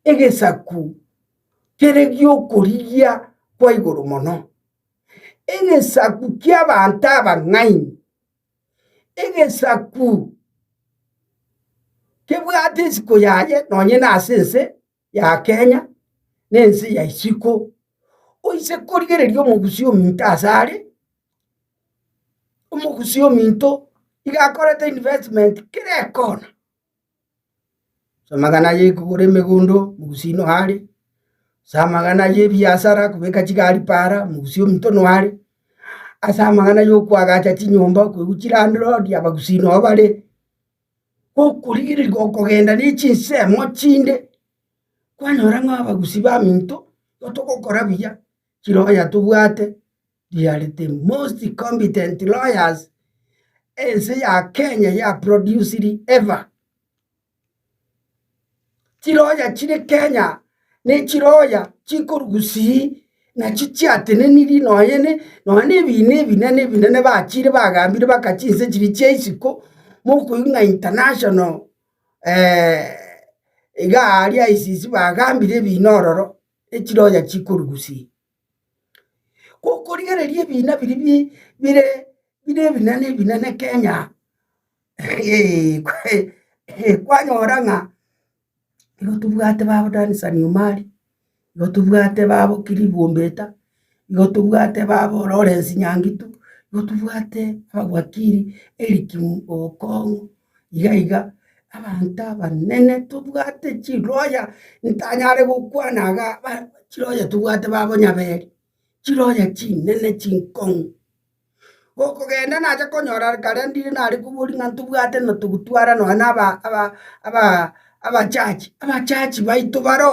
egesaku kere gi'okorigia kwa igoro mono, egesaku ki'abanto abang'aini, egesaku kebwate isiko yaye nonye nase ense ya Kenya, na ense ya isiko, oise korigereria omogusii ominto ase are, omogusii ominto iga akorete investment kera ekona. Amagana aya ekogora emegondo, omogusia noyo are, ase amagana aya ebiasara kobeka chigari paara, omogusia ominto noyo are, ase amagana ya okoagacha chinyomba koigwa chilandlord abagusi noyo bare, gokorigereri gokogenda ne chinsemo chinde, kwanyora ng'a abagusi baminto igo togokora buya. chiroya tobwate riare the most competent lawyers ense ya Kenya ya produced ever. Chiroya chire Kenya ne chiroya chikorugusii nachi chiateneniri nonya ne nonya ne ebina ebinene ebinene bachire bagambire baka chinse chiria chia isiko mokoigwa ng'a international igaa aria ICC bagambire ebina ororo. echironya chikorugusia. Gokorigereria ebina biria bi bire bire ebinene ebinene Kenya eeh kwe eeh kwanyora ng'a igo tobwate babo Dansan Omari, igo tobwate babo Clive Ombeta. Igo tobwate babororo ore esinyangitu, igo tobwate ababwakiri eligimu okong'u, iga iga, abanto abanene tobwate chiroya ntanyare gokwana iga ba chiroya tobwate babo nyaberi, chiroya chinene chinkong'u. Gokogenda nacha konyora kare ndire nare kobori ng'a ntobwate ng'a togotwara nonya na aba aba aba abachachi, abachachi baito baro.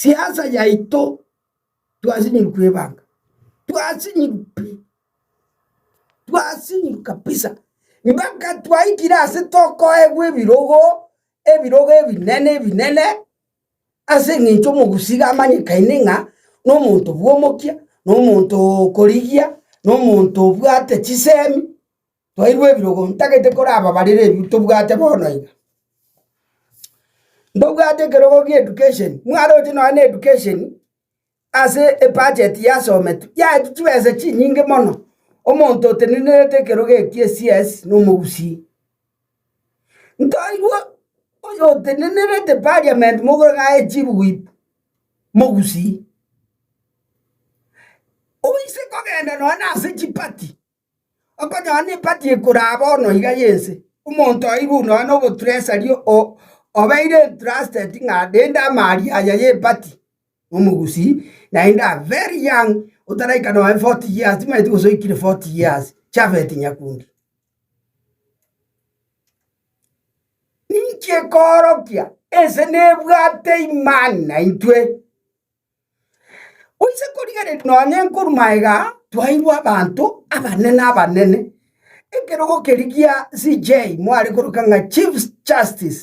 Siasa yaito twasinyigwa kwebanga, twasinyigwa pi, twasinyigwa kabisa mpaka twaikire ase tokoegwa ebirogo, ebirogo ebinene ebinene ase eng'encho omogusii amanyekaine ng'a nomonto bwomokia, nomonto okorigia, nomonto obwate chisemi. Twairwe ebirogo, ntagete korababarere ebibe tobwate bono iga. Mbabwate ekerogo gia education, mwaroche nonye na education ase ebudget yasometwe, yaetu chibesa chinyinge mono, omonto otenenerete ekerogo eki gie CS na omogusii. Ntoirwe oyo otenenerete parliament mogoro ng'a aye chief whip, mogusii. Oise kogenda nonye na ase chiparty. Okonyora nempati ekoraa bono iga y'ense, omonto oirwe nonya noboturesari obeire entrusted ng'a rende amaari aya y'empati nomogusii naende are very young otaraika nonya forty years timanyeti gose oikire forty years Japhet Nyakundi. Ninki ekoorokia? Ense nebwate imani naintwe. Onye korigereria nonya nenkorwa aiga twairwe abanto abanene abanene, ekerogo keria gia CJ mware koroka ng'a Chief Justice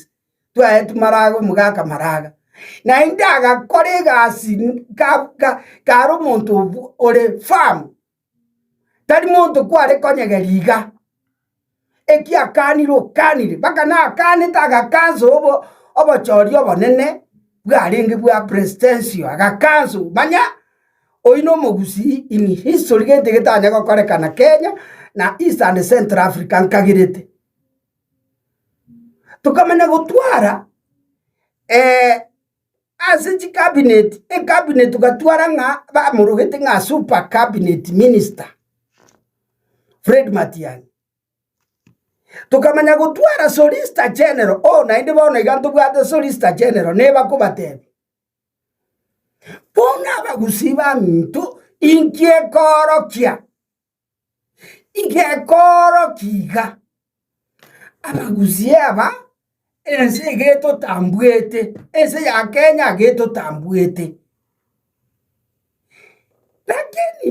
twaetwe maraga omogaka maraga, naende agakora egasi ka ka kare omonto ore firm. tari monto kware konyegeria iga. Ekiakanire okanire, mpaka nakanete agakansa obo obochori obonene bwarenge bwa Prestensio, agakansa oo. Manya oyio na omogusii in history gento egetanya gokorekana Kenya na East and Central Africa nkagerete. Tokamanya gotwara. Ase chikabineti ekabineti gatwara ng'a bamorogete ng'a super cabinet minister Fred Matiang'i. Tokamanya gotwara Solicitor General, oo naende bono iga ntobwate Solicitor General nebakobatebia. Bono abagusii baminto inki ekoorokia? Igekoorokia iga, abagusii aba, ense iga etotambuete, ense ya Kenya iga etotambuete. Lakini.